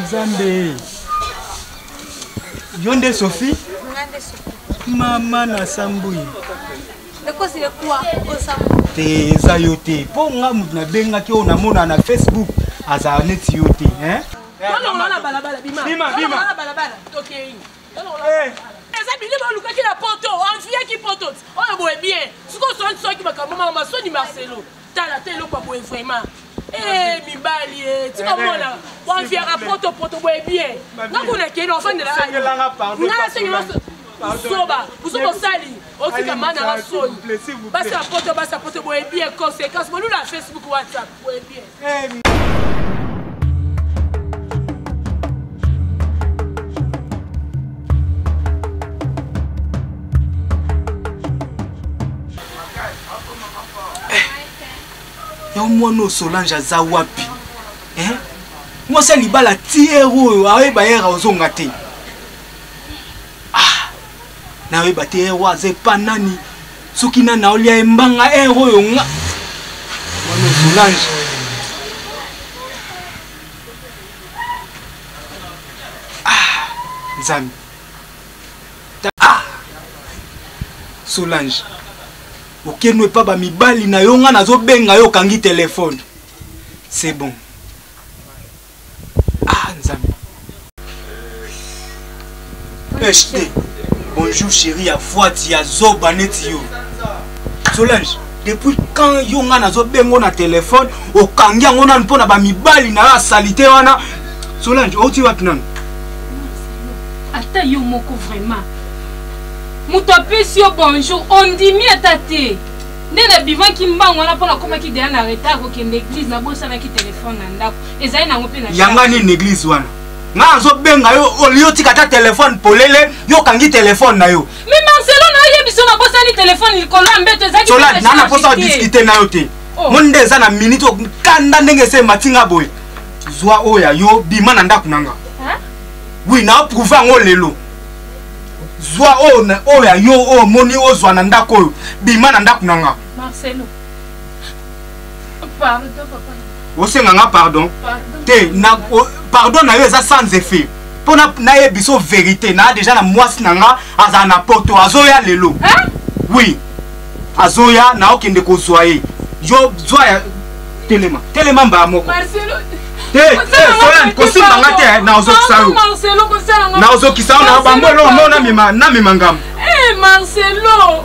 nzambe yo nde sophie mama na sambui te eza yo te mpo nga moto nabengaki oyo namona na facebook azala neti yo te eh, eza bilimo olukaki na poto anviyaki poto oyo boye bien sikoyo soki makambo mama masoni marcelo tala te eloko boye vraiment eh, mibali eh, tika eh, mona waviaka potopoto boye bie nga kuna kende ofandelaanga asengela zoba buzoba osali otika mana nga soni basi ya poto basi ya poto boye bie conséquence bolula facebook whatsapp boye bie eh, yango mwana oyo solange aza wapi eh? mwasi ya libala tiere oyo ayeba ere ozonga te ah, nayeba te ere aza epa nani soki nani aolia embanga ere oyo nga mwana solange nzambe ah! solange okeno epa bamibali na yo ngai nazobenga yo okangi telefone c'est bon ah nzambe hd bonjour chéri ya fwati ya zoba neti yo solange depuis quand yo ngai nazobengo na telefone okangi yango nanu mpo na bamibali na yo ya salite wana solange outi wapi nanu ata yo moko vraiment moto apesi yo bonjour ondimi ata te nde nabimaki mbango wana mpo nakomaki deya na retard kokende église nabosanaki telefone na ndako ezali nango mpe na yanga nini église wana ngai azobenga yo olio tika ata telefone polele yo okangi telefone na yo Mais Marcelo na oyebi so nabosani telefone likolo ya mbeto ezalaki Solade, na naposa odiscute na yo te. Oh. Moni nde eza na minute oyo kanda ndenge ese emati nga boye. Zwa oyo ya yo bima na ndako na nga. Oui, na oprouve yango lelo. Zwa oyo na- oyo ya yo oyo omoni ozwa na ndako oyo bima na ndako na nga. Marcelo. Pardon papa. Osenga nga pardon. Pardon. Te na o, pardon na yo eza sans effet. Mpo na na ye biso verite na deja na mwasi na nga azala na poto azoya lelo. Hein? Oui. Azoya na okende kozwa ye. Yo zwa ya telema. Telema mbaa moko. Marcelo. Te, te, Solan, kosimba nga te na ozokisa yo. Marcelo kosala nga. Na ozokisa yo na bambo eloko moko na mema na mema ngambo. Eh Marcelo.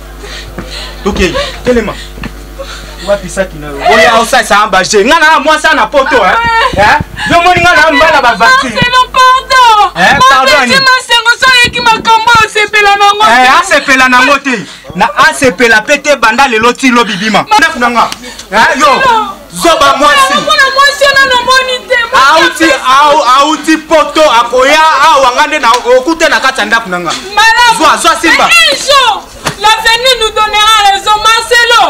tokei telema wapi saki na yo oya osalisa ya baje ngai na mwasi ya na poto eh? ah, eh? yo moni ngai na mbala bavati asepela nango te na asepela mpe te banda lelo ti lobi bima ndako na nga eh, yo zoba mwasi auti auti poto akoya awa nga nde okute na kati ya ndako na nga zwa zwa simba l'avenir nous donnera raison marcelo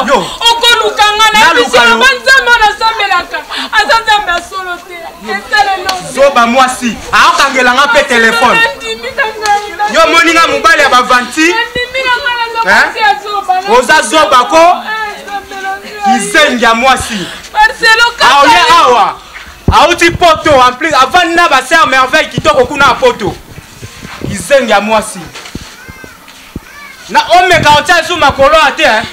okoluka nga na yebisiaba nzambe oyo nasambelaka aza nzambe ya solo te zoba mwasi aokangela nga mpe telefone yo omoni nga mobali ya bavanti oza zoba ko eh, kizengi ya mwasi aoye awa auti poto en plus avandi na baser merveille kitoko kuna ya poto kizengi ya mwasi na omeka otya esu makolo ya te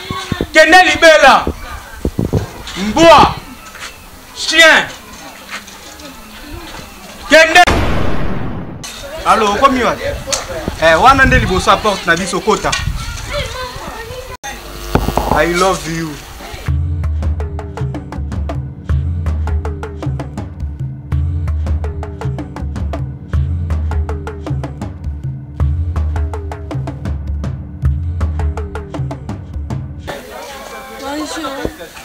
kende libela mbwa chien kende alo okomi wapi eh, wana nde liboso ya porte na biso kota i love you Bonjour.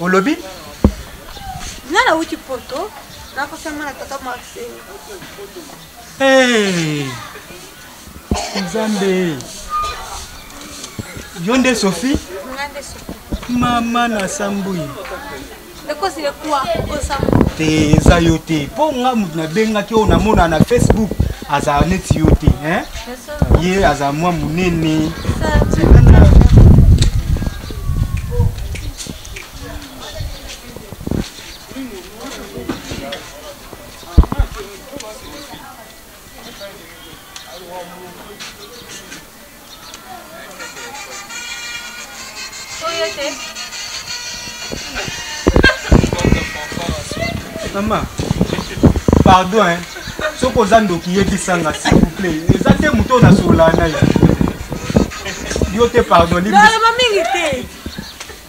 olobi nga nauti poto nakosama na tata marcel eh, nzambe yo nde sophie mama na sambui te eza yo te mpo nga moto nabengaki oyo namona na facebook azala neti yo te ye aza mwa monene mama pardon hein. soki oza ndoki yebisanga s'il vous plaît eza te moto oyo nasolola na ye yo te pardon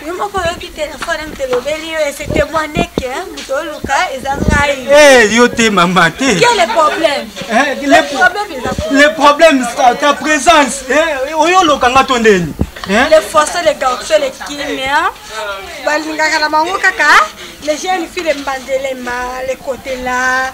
yo moko oyoki telefone moto elobeli yo ese témoigne ke moto oluka eza ngai eh, yo te mama te le problème ta présence eh, oyo oloka nga to ndeni eh? le fosso le garço le kimia balingaka na bango kaka les jeunes filles le mbandelema le kotela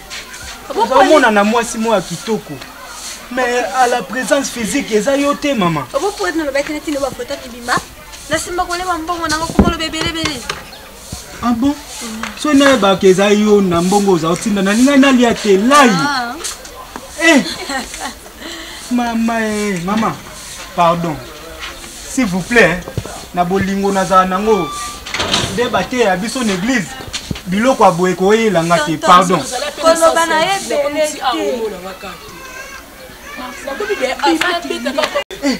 ozomona na mwasi moko ya kitoko mais à la présence physique eza yo te mama obopoete nalobaki neti nde bafoto bibima nasimba koleba mbongo nango komoloba ebelebele ah bon so nayebaka eza yo na mbongo oza otinda nalingai nalia te lai ah. eh. mama e mama pardon s'il vous plaît na bolingo nazala nango nde bateya biso na église biloko ya boye koyela nga te pardon koloba na ye ebele te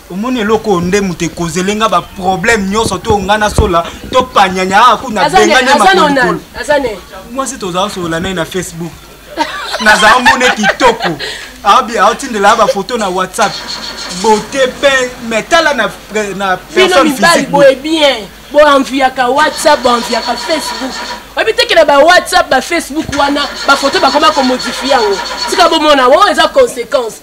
omoni eloko oyo nde moto ekozele nga baproblème nyonso to nga na sola to panyanya aa ah, kuna bengane makolikolo mwasi tozala solola naye na facebook nazala mone kitoko aotindela bafoto na whatsapp bote pe me tala na personne physique boenvuyaka whatsapp boenvuyaka facebook oyebi tekela ba whatsapp ba facebook wana bafoto bakoma komodifie yango tika bomona o eza conséquence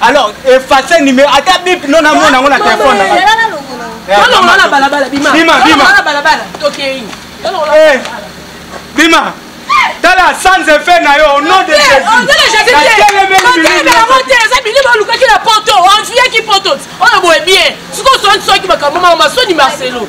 alors efface numero ata bip no namona yango na telefone nanga tolongola na balabala bima bima bima na balabala tokei eh, bima tala sans effet na yo au nom de jésusango te eza bini bolukaki na poto enviaki poto oyo boye bien sikoyo soki makambo mama masoni marcelo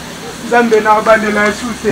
nzambe na bandela yesu te